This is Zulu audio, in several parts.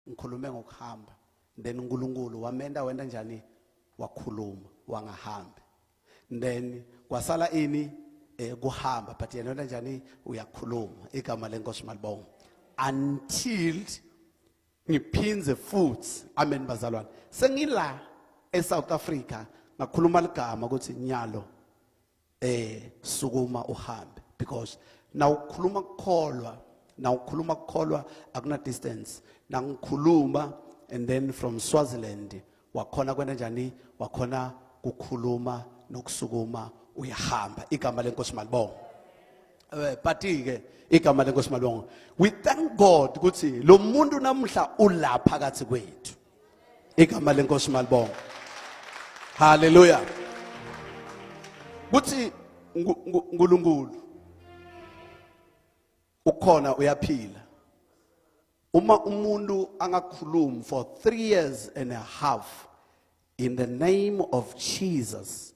ngikhulume ngokuhamba then uNkulunkulu wamenda wenda njani wakhuluma wangahambi then kwasala ini eh kuhamba but yena wena njani uyakhuluma igama lenkosi malibonga until ngiphindze futhi amen bazalwane sengila eSouth Africa ngakhuluma ligama ukuthi nyalo eh sukuma uhambe because nawukhuluma kukholwa nawukhuluma kukholwa akuna distance nangikhuluma and then from Swaziland wakhona kwena njani wakhona kukhuluma nokusukuma uyahamba igama lenkosi malibonga eh party ke igama lenkosi malibonga we thank god ukuthi lo muntu namuhla ulapha kathi kwethu igama lenkosi malibonga haleluya kuthi uNkulunkulu ukhona uyaphila uma umuntu angakhulumi for 3 years and a half in the name of Jesus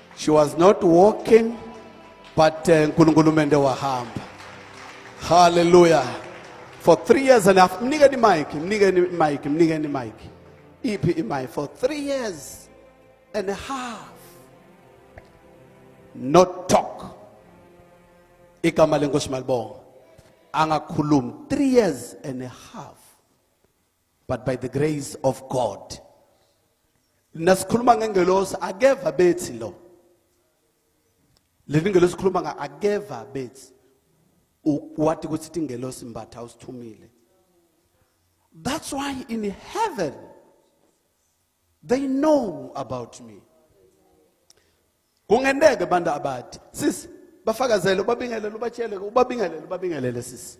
She was not walking but uh, uNkulunkulu mende wahamba. Hallelujah. For three years and a half. Mnikeni mic, mnikeni mic, mnikeni mic. Iphi imai for three years and a half. Not talk. Igama lenkosi malibonga. Angakhulumi three years and a half. but by the grace of God nasikhuluma ngengelosi akeva bethi lo leli ngelosi khuluma nga akeva bethi wathi ukuthi ithi ngelosi mbatha usithumile that's why in heaven they know about me kungendeke abantu abathi sisi bafakazele ubabingelele ubatsheleke ubabingelele ubabingelele sisi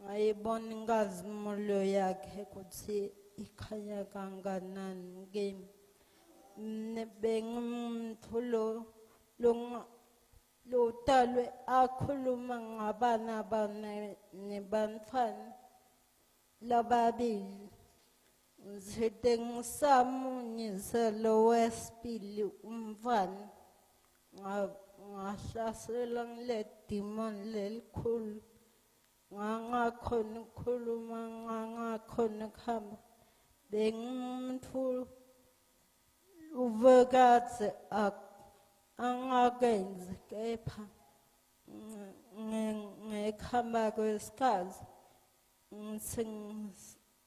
ngayibona inkazimulo yakhe ukuthi ikhanya kanganani kimi bengimthulo lotalwe akhuluma ngabana bana nebantfwana lababili ngithe ngisamunyise lo wesibili umfana ngahlasela ngile demon lelikhulu ngangakhona ukukhuluma ngangakhona ukuhamba bengimuntu ubekade angakenzi kepha ngekhamba kwesikhathi ngithi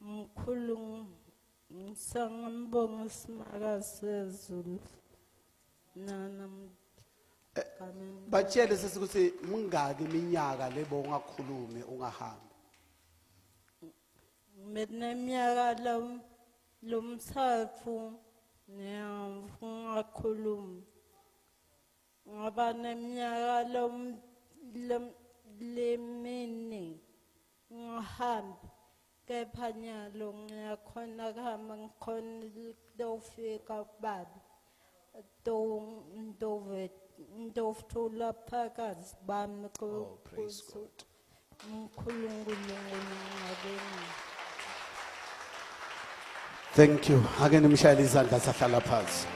Mkhulu ngisangambonga usimaka sezulu. Nana batshele sisi ukuthi mingaki iminyaka lebo ungakhulumi ungahambi ngineminyaka lo lomthathu ngiyakhuluma ngaba neminyaka lo lemini ngihambe kepha nyalo ngiyakhona kuhamba ngikhona kutofika kubaba ndovuthula phakazi bami Oh, praise God. mkhulungulungulu ngabeni Thank you. Ake nimshayele izandla sahlala phansi.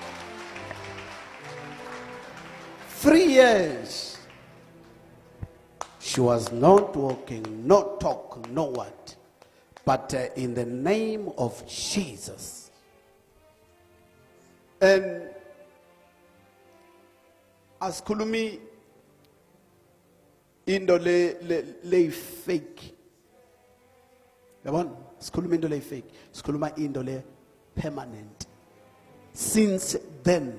3 years She was not walking, no talk, no what. But uh, in the name of Jesus. And as Kulumi into le le le fake yabona sikhuluma into le fake sikhuluma into le permanent since then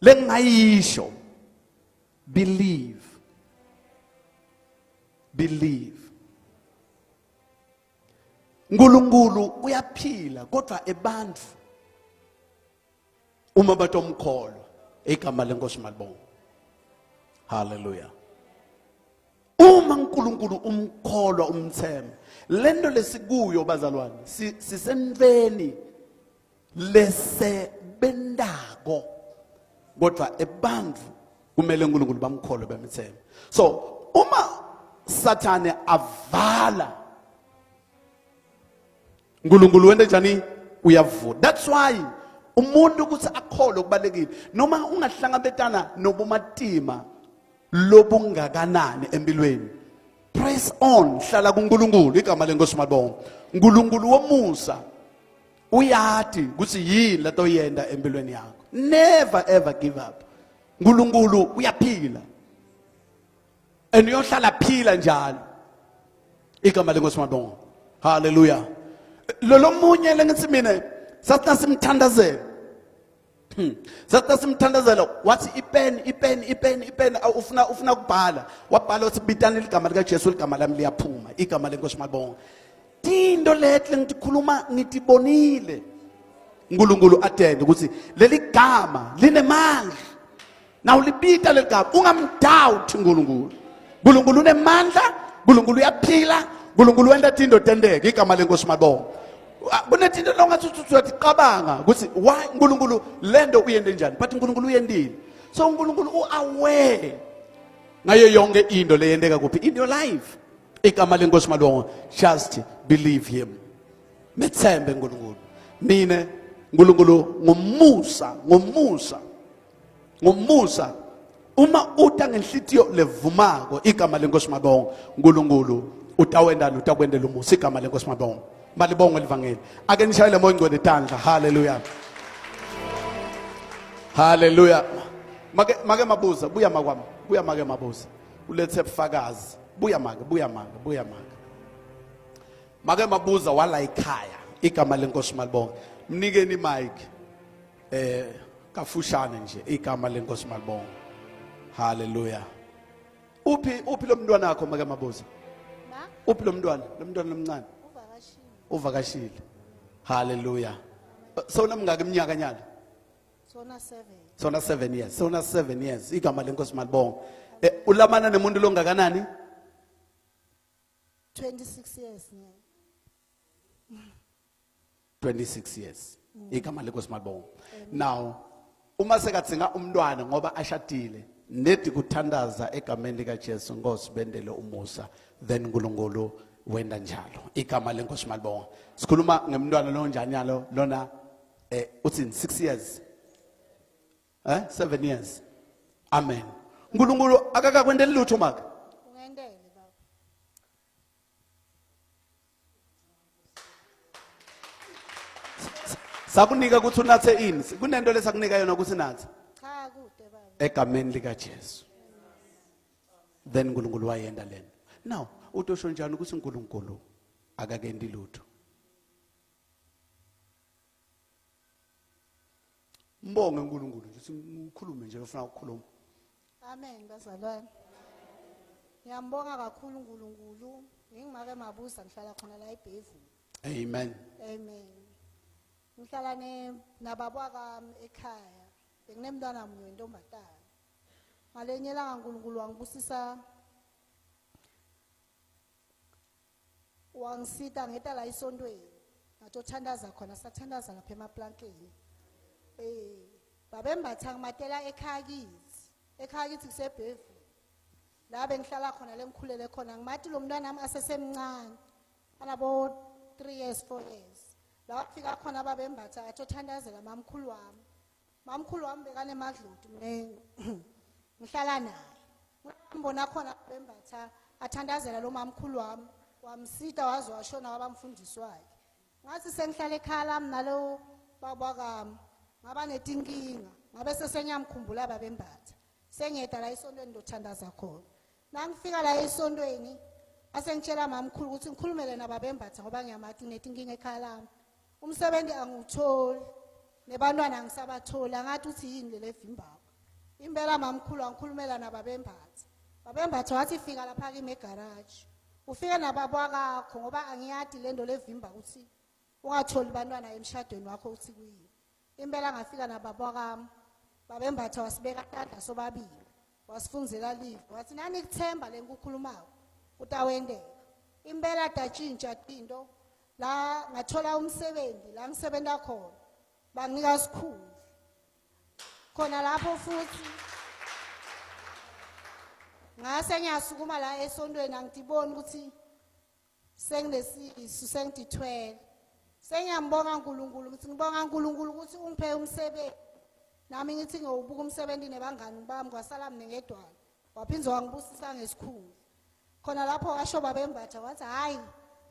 lengayisho believe believe uNkulunkulu uyaphila kodwa ebantu uma batomkholwa igama lenkosi malibonga haleluya uma uNkulunkulu umkholwa umthemba lento lesikuyo bazalwane sisentweni lesebentako kodwa ebantfu kumele uNkulunkulu bamkholwe bemthembe so uma sathane avala uNkulunkulu wente njani uyavula that's why umuntu ukuthi akholwe kubalekile noma ungahlangabetana nobumatima lobungakanani empilweni press on hlala kuNkulunkulu igama lenkosi malibonga uNkulunkulu womusa uyathi ukuthi yini lento oyenda empilweni yakho never ever give up uNkulunkulu uyaphila and uyohlala phila njalo igama lenkosi malibonga haleluya lolomunye lengithi mina sathi simthandazela Hmm. Sasa simthandazela wathi ipen ipen ipen ipen ufuna ufuna kubhala wabhala wathi bitani ligama lika Jesu ligama lami liyaphuma igama lenkosi mabonga tinto letle ngitikhuluma ngitibonile uNkulunkulu atende ukuthi leli gama linemandla na ulibita leli gama ungamdoubt uNkulunkulu uNkulunkulu unemandla uNkulunkulu uyaphila uNkulunkulu wenta tinto tenteke igama lenkosi mabonga ah, kunetinto longathi uyaticabanga ukuthi why uNkulunkulu lento uyende njani but uNkulunkulu uyendile so uNkulunkulu uaware ngayo yonke into leyenteka kuphi in your life igama lenkosi malongo just believe him methembe uNkulunkulu mina uNkulunkulu ngomusa ngomusa ngomusa uma uta ngenhlitiyo levumako igama lenkosi mabongo nkulunkulu utawendala utakwendela umusa igama lenkosi mabongo malibongo elivangeli ake nishayele moya ngcwele tandla haleluya haleluya make make mabuza buya makwami buya make mabuza ulethe bufakazi buya make buya make buya make make mabuza wala ikhaya igama lenkosi malibongo mnikeni mike eh kafushane nje igama lenkosi malibonga haleluya uphi uphi lo mntwana wakho make mabuza uphi lo mntwana lo mntwana lomncane uvakashile haleluya sona mngaka iminyaka nyana sona 7 sona 7 years sona 7 years igama lenkosi malibonga eh, ulamana nemuntu longakanani 26 years 26 years igama lenkosi malibonga now uma sekadzinga umntwana ngoba ashadile nedi kuthandaza egameni likaJesu Nkosi bendele umusa then uNkulunkulu wenda njalo igama lenkosi malibonga sikhuluma ngemntwana lo njani yalo lona eh uthi 6 years eh 7 years amen uNkulunkulu akakakwendeli lutho maka sakunika ukuthi unathe ini kunento lesakunika yona ukuthi nathe cha kude baba egameni lika Jesu then uNkulunkulu wayenda lento now utosho njani ukuthi uNkulunkulu akakendi lutho Mbonge uNkulunkulu nje sikhulume nje ufuna ukukhuluma Amen bazalwane. Ngiyambonga kakhulu uNkulunkulu. Ngingimake mabuza ngihlala khona la eBhevu. Amen. Amen. Ngihlala ne nababa kwami ekhaya. Benginemntwana munye wentombazana. Ngalenye langa uNkulunkulu wangibusisa wangisita ngeta la esontweni ngathi othandaza khona sathandaza lapha emaplankeni eh babembatha ngimatela ekhaya kithi ekhaya kithi kusebhevu la bengihlala khona lengikhulele khona ngimati lo mntwana nami asesemncane anabo 3 years 4 years la wafika khona babembatha athi othandazela mamkhulu wami Mamkhulu wami bekanemadloti mina ngihlala naye. Ngibona khona bembatha athandazela lo mamkhulu wami wamsita waze washona wabamfundisi wakhe. Ngathi sengihlala ekhaya lami nalo baba kami ngaba netinkinga ngabe sesenyamkhumbula babembatha. Sengiyeda la isontweni ndothandaza khona. Nangifika la esontweni asengitshela mamkhulu ukuthi ngikhulumele nababembatha ngoba ngiyamathi unetinkinga ekhaya lami. Umsebenzi angiwutholi nebantwana angisabatholi angathi uthi yini leli evimbayo. Impela mamkhulu angikhulumela nababembatha. Babembatha wathi fika lapha kimi egarage. Ufike nababwakakho ngoba angiyadi lento levimba ukuthi ungatholi bantwana emshadweni wakho uthi kuyini. impela ngafika nababa wakami babembatha wasibeka tanda sobabili wasifunzela live wathi nani kuthemba lenkukhulumayo utawendeka impela datshintsha tinto la ngathola umsebenzi la ngisebenza khona banginika sikhulu khona lapho futhi ngase ngiyasukuma la esontweni angidiboni ukuthi senginesisu sengidithwele sengiyambonga uNkulunkulu ngithi ngibonga uNkulunkulu ukuthi ungiphe umsebenzi nami ngithi ngiyowubuka umsebenzi nebangani bami kwasala mina ngedwana waphinde wangibusisa ngesikhulu khona lapho washo babembatha wathi hhayi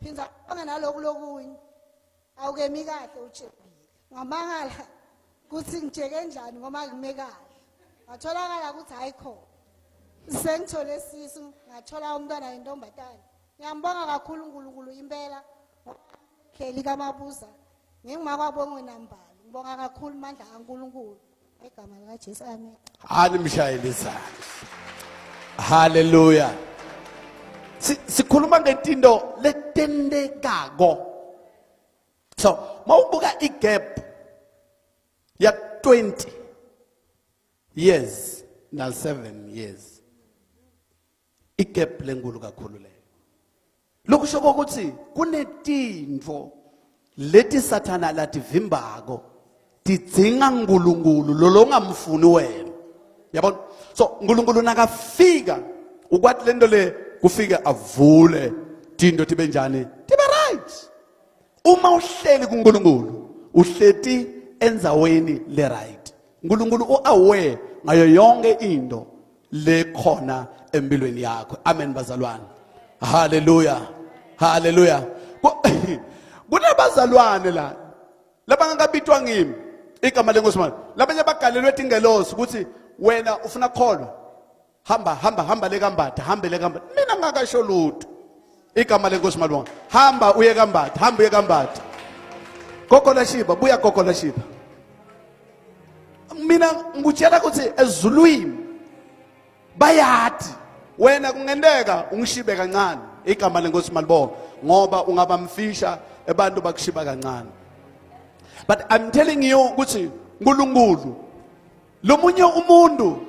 phinda ubonge naloku lokunye awukemi kahle utshebile ngamangala ukuthi ngitsheke njani ngoba ngime kahle ngatholakala ukuthi hayi khona sengithole sisu ngathola umntwana yentombazane ngiyambonga kakhulu uNkulunkulu impela kheli kamabuza ngingumakwabongwe nambali ngibonga kakhulu mandla kaNkulunkulu Igama lika Jesu amen. Hani mshayele izandla. Hallelujah. Si- Sikhuluma ngetinto letentekako. So, mawubuka igap ya 20 years na 7 years. igap lenkulu kakhulu leyo lokusho ukuthi kunetintfo leti sathana lativimbako tidzinga nkulunkulu lolo ungamfuni wena yabona so nkulunkulu nakafika ukwati lento le kufike avule tinto tibe njani tibe right uma uhleli kunkulunkulu uhleti endzaweni le right nkulunkulu u-aware ngayo yonke into lekhona empilweni yakho amen bazalwane haleluya haleluya kunabazalwane la labangakabitwa ngimi igama lenkosi manje labanye bagalelwe tingelosi ukuthi wena ufuna kukholwa hamba hamba hamba le kambatha hambe le kambatha mina ngakasho lutho igama lenkosi malibonga hamba uye kambatha hamba uye kambatha kokola shiba buya kokola shiba mina ngikutshela ukuthi ezulwini bayathi wena kungenteka ungishibe kancane igama lenkosi malibonga ngoba ungaba mfisha abantu bakushiba kancane but i'm telling you ukuthi uNkulunkulu lomunye umuntu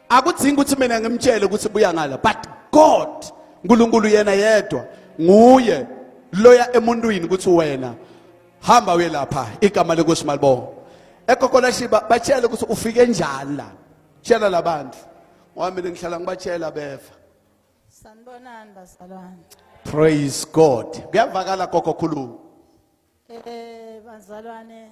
akudzingi ukuthi mina ngimtshele ukuthi buya ngala but god unkulunkulu yena yedwa nguye loya emuntwini ukuthi wena hamba uye lapha igama lenkosi malibonga ekokolashiba batshele ukuthi ufike njani la tshela labantu ngoba mina ngihlala ngibatshela befa sanibonani bazalwane praise god kuyavakala gogo khuluma eh bazalwane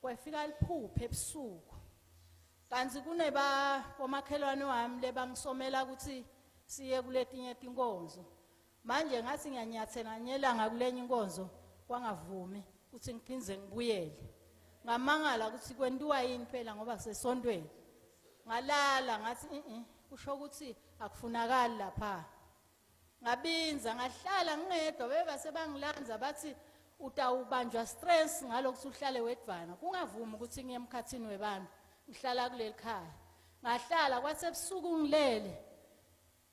Kwafika liphuphe ebusuku. Kanti kuneba komakhelwane wami lebangisomela ukuthi siye kuletinye tinkonzo. Manje ngathi ngiyanyathela nganyelanga kulenye inkonzo kwangavumi ukuthi ngiphinde ngibuyele. Ngamangala ukuthi kwentiwa yini phela ngoba sesontweni. Ngalala ngathi mhm kusho ukuthi akufunakali lapha. ngabinza ngahlala ngingedwa beba sebangilanza bathi utawubanjwa stress ngalokuthi uhlale wedvana kungavumi ukuthi ngiye emkhathini webantu ngihlala kuleli khaya ngahlala kwathi ebusuku ngilele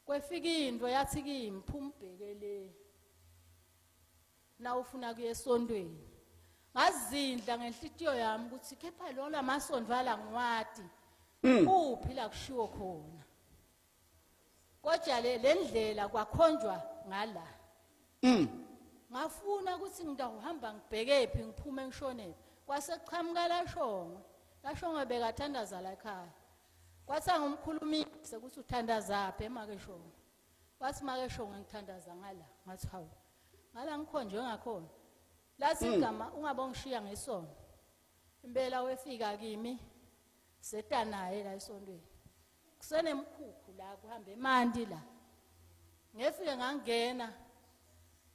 kwefika into yathi kimi phuma ubheke le nawufuna kuye esontweni ngazindla ngenhlitiyo yami ukuthi kepha lona masondvala ngiwati hmm. uphi la kushiwo khona kodwa le le ndlela kwakhonjwa ngala Mm. ngafuna ukuthi ngidawuhamba ngibhekephi ngiphume ngishonephi kwase kuqhamuka lashongwe lashongwe bekathandaza la ekhaya kwathi angumkhulumisi ukuthi uthandazaphi emake shongwe wathi make shongwe ngithandaza ngala ngathi hawu ngala ngikhonjwe ngakhona lathi igama ungabongishiya ngesono impela wefika kimi seta naye la esontweni kusenemkhukhu la kuhamba emanti la ngefike ngangena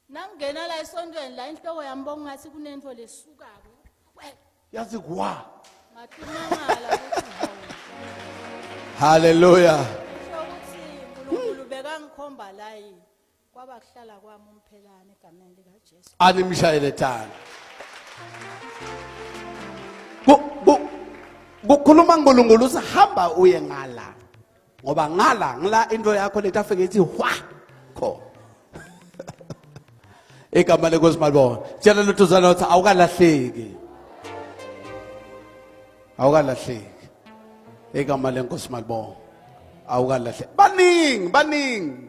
nangena la esontweni la inhloko yami bongathi kunento lesukako yazi kwa ngathumangala ukuthi haleluya ukuthi uNkulunkulu bekangikhomba la yini Kwaba kuhlala kwami umphelane egameni lika Jesu. Animshayele thala. Kukhuluma uNkulunkulu usihamba uye ngala. Ngoba ngala ngila into yakho leta afike ithi hwa kho. Igama lenkosi malibona. Tshela lutuzana uthi awukalahleki. Awukalahleki. Igama lenkosi malibona. Awukalahleki. Baningi baningi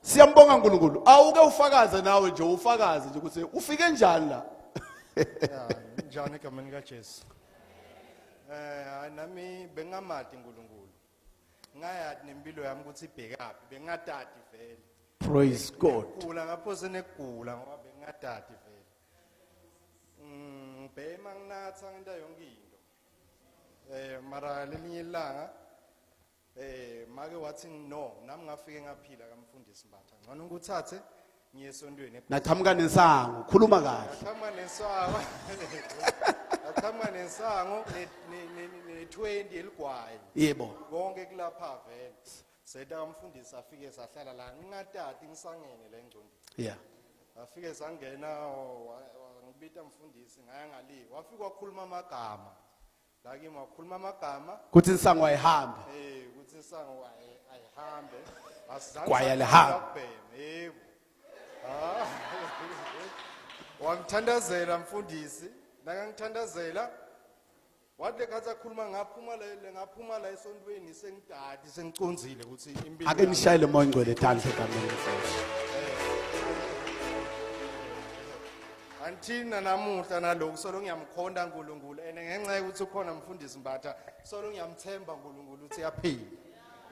Siyambonga uNkulunkulu. Awuke ufakaze nawe nje ufakaze nje ukuthi ufike njani la. Ya, njani egameni kaJesu. Eh, hayi nami bengamati uNkulunkulu. Ngayati nempilo yami ukuthi ibhekaphi, bengatati vele. Praise God. Gula ngapho senegula ngoba bengatati vele. Mm, bhema nginatha ngenta yonke into. Eh, mara lelinye ilanga Eh make wathi no nami ngafike ngaphila kamfundisi Mbatha. Ngcono ngikuthathe ngiye esontweni. Naqhamuka nensango, khuluma kahle. Ngaqhamuka nensango. Ngaqhamuka nensango ne-20 eligwayi. Yebo. Konke kulapha vele. Seta kamfundisi afike sahlala la ngingatati ngisangene la engcondweni. Yeah. Afike sangena ngibita mfundisi ngaya ngale. Wafika wakhuluma amagama. la kimi wakhuluma amagama kuthi insangu ayihambe eh ukuthi isango ayi- ayihambe asizange Kwaya sathanda lihamba. ukubhema, yebo Ah. wangithandazela mfundisi nakangithandazela wathi lekhathi akhuluma ngaphuma la ngaphuma la esontweni sengidala Sengiconzile ukuthi impilo ake nishayele moya ngcwele dance egameni lenkosi Anthina namuhla naloku solo ngiyamkhonda uNkulunkulu ene ngenxa yokuthi ukhona mfundisi Mbatha solo ngiyamthemba uNkulunkulu ukuthi yaphila.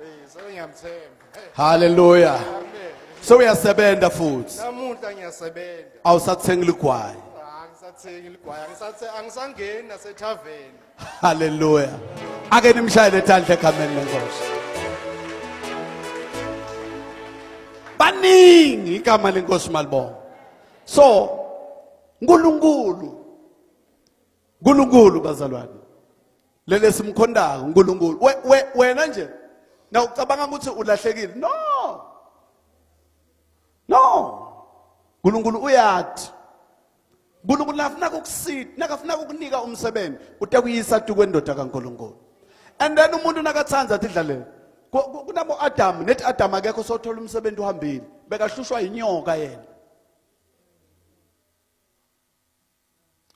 Eh solo ngiyamthemba. Hallelujah. Amen. So uyasebenza futhi. Namuhla ngiyasebenza. Awusathengi ligwayi. Angisathengi ligwayi angisathe angisangeni nasethaveni. Hallelujah. Ake nimshayele thandle egameni lenkosi. Baningi igama lenkosi malibonga. So uNkulunkulu uNkulunkulu bazalwane lele simkhondayo uNkulunkulu wena nje na ucabanga ukuthi ulahlekile no no uNkulunkulu uyathi uNkulunkulu nakafuna kukusita nakafuna kukunika umsebenzi utakuyisa tu kwendoda kaNkulunkulu and then umuntu nakathanda athi dlalela kunabo Adam nethi Adam akekho sothola umsebenzi uhambile bekahlushwa inyoka yena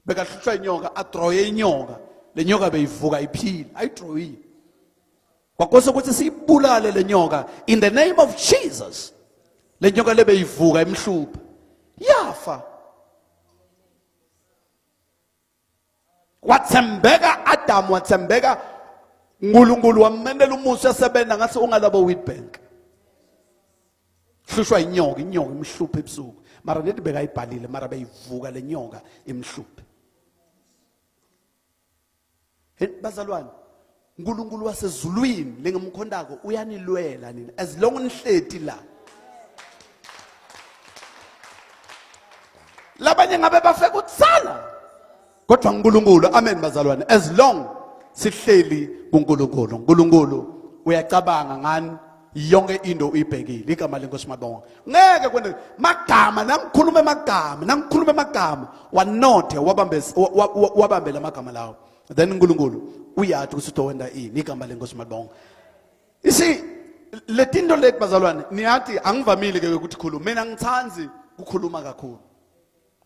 bekahlushwa inyoka adroye inyoka lenyoka beyivuka iphila ayidroyile Kwakose ukuthi siyibulale lenyoka in the name of Jesus. Lenyoka lebe ivuka emhlupha. Yafa. Wathembeka Adam wathembeka uNkulunkulu wamenela umusa esebenza ngathi ungalabo Witbank. Hlushwa inyoka, inyoka imhluphe ebusuku. Mara nedi bekayibhalile mara beyivuka lenyoka imhluphe. bazalwane uNkulunkulu wasezulwini lengemkhondako uyanilwela nina as long nihleti la labanye ngabe bafeka utsala kodwa uNkulunkulu amen bazalwane as long sihleli kuNkulunkulu uNkulunkulu uyacabanga ngani yonke into uyibhekile igama lenkosi mabonga ngeke kwene magama nangikhuluma amagama nangikhuluma amagama wanothe wabambe wabambe lamagama lawo then uNkulunkulu uyathi ukuthi utowenda ini igama lenkosi mabonga isi letinto leti bazalwane niyathi angivamile ke ukuthi khuluma mina ngithandi kukhuluma kakhulu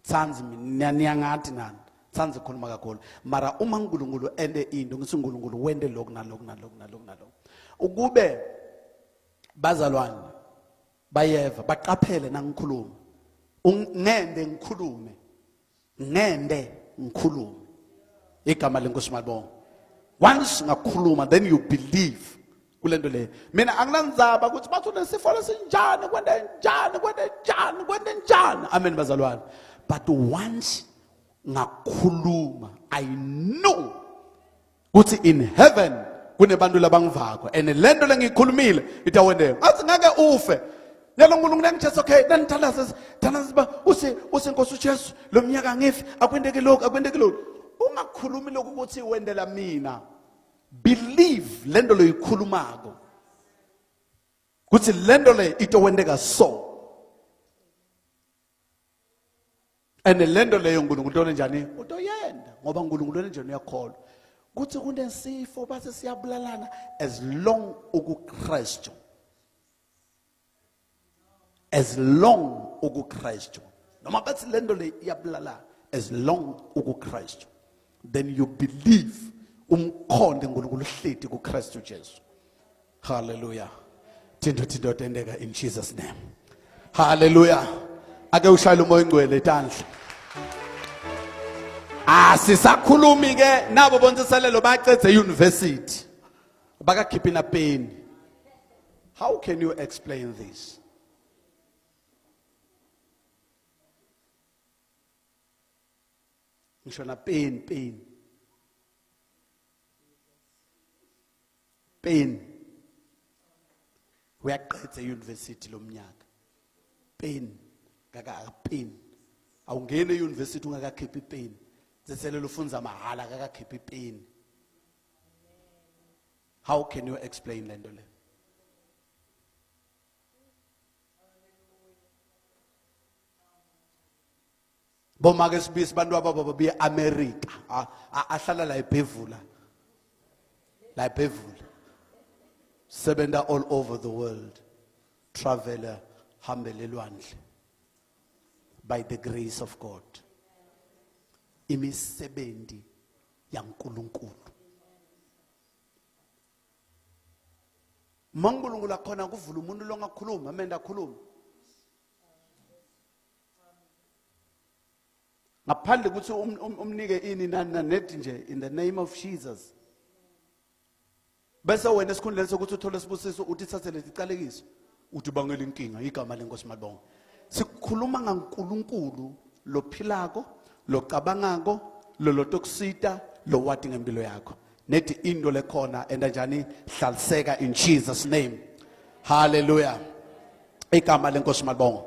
Tsanzi mina niyangathi nani. Tsanzi khuluma kakhulu. Mara uma uNkulunkulu ende into ngithi uNkulunkulu wende lokhu nalokhu nalokhu nalokhu nalokhu. Ukube bazalwane bayeva baqaphele nangikhuluma. Ngende ngikhulume. Ngende ngikhulume. Igama lenkosi malibonga. Once ngakhuluma then you believe kule nto leyo mina anginanzaba ukuthi bathi unesifo lesinjani kwende njani kwende njani kwende njani amen bazalwane but once ngakhuluma i know ukuthi in heaven kunebantu labangivako and le nto lengiyikhulumile itawendeka ngathi ngeke ufe yalo nkulunkulu yangijesu okay nanithandaza thandaza uba use use nkosi ujesu lo mnyaka angifi akwendeki lokhu akwendeki lokhu ungakhulumi lokhu ukuthi wendela mina believe lento loyikhulumako kuthi lento le itokwenteka so and lento leyo uNkulunkulu utole njani utoyenda ngoba uNkulunkulu onenjani uyakholwa kuthi kunesifo base siyabulalana as long ukuKristu as long ukuKristu noma bathi lento le iyabulala as long ukuKristu then you believe umkhonde uNkulunkulu uhleti kuKristu Jesu hallelujah thinto thinto tendeka in Jesus name hallelujah ake ushayile umoya ingcwele etandla asisakhulumi ah, ke nabo bonsiselelo bacedze university bakakhiphi na peni how can you explain this ngisho na peni peni peni uyaqedza euniversity lomnyaka peni kakapeni awungeni euniversity ungakakhiphi peni zeselelo ufunza mahhala kakakhiphipeni How can you explain lento le? Boma ke sibisi bantu ababa be America. Ahlala la eBhevula. La eBhevula. Sebenda all over the world. Traveler hambele lwandle. By the grace of God. Imisebenzi yaNkulunkulu maNkulunkulu akhona kuvula umuntu longakhuluma amenda akhuluma ngaphandle ukuthi um, um, umnike ini nani nanethi nje in the name of Jesus bese wena esikhundleni sokuthi uthole isibusiso uthi thathe lezi calekiso uthi bangela inkinga igama lenkosi malibonga sikhuluma ngaNkulunkulu lophilako locabangako lolotokusita lowati ngempilo yakho nethi into lekhona enda njani hlaliseka in Jesus name hallelujah igama lenkosi malibonga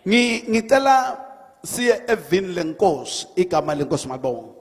ngicela siye evini lenkosi igama lenkosi malibonga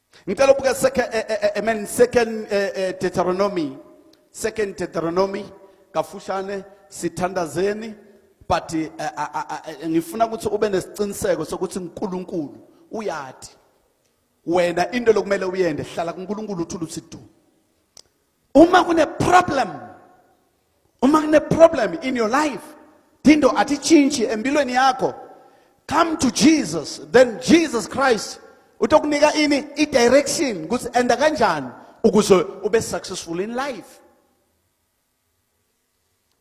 Ngicela ubuke second eh, eh, eh, amen second Deuteronomy second Deuteronomy kafushane sithandazeni but ngifuna ukuthi ube nesiqiniseko sokuthi uNkulunkulu uyati wena into lokumele uyende hlala kuNkulunkulu uthula usidu uma kune problem uma kune problem in your life thinto atitshintshi empilweni yakho come to Jesus then Jesus Christ utokunika ini i direction ukuthi enda kanjani ukuze ube successful in life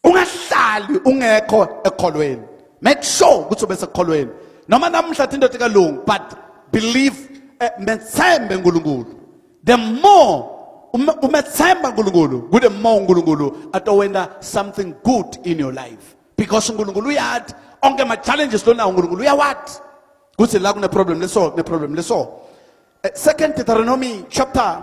ungahlali ungekho ekholweni make sure ukuthi ube sekholweni noma namhla thi indoda kalungu but believe eh, methembe uNkulunkulu the more umethemba uNkulunkulu kude more uNkulunkulu atowenda something good in your life because uNkulunkulu uyathi onke ama challenges lona uNkulunkulu uyawathi kuthi la kune problem leso kune problem leso eh, second Deuteronomy chapter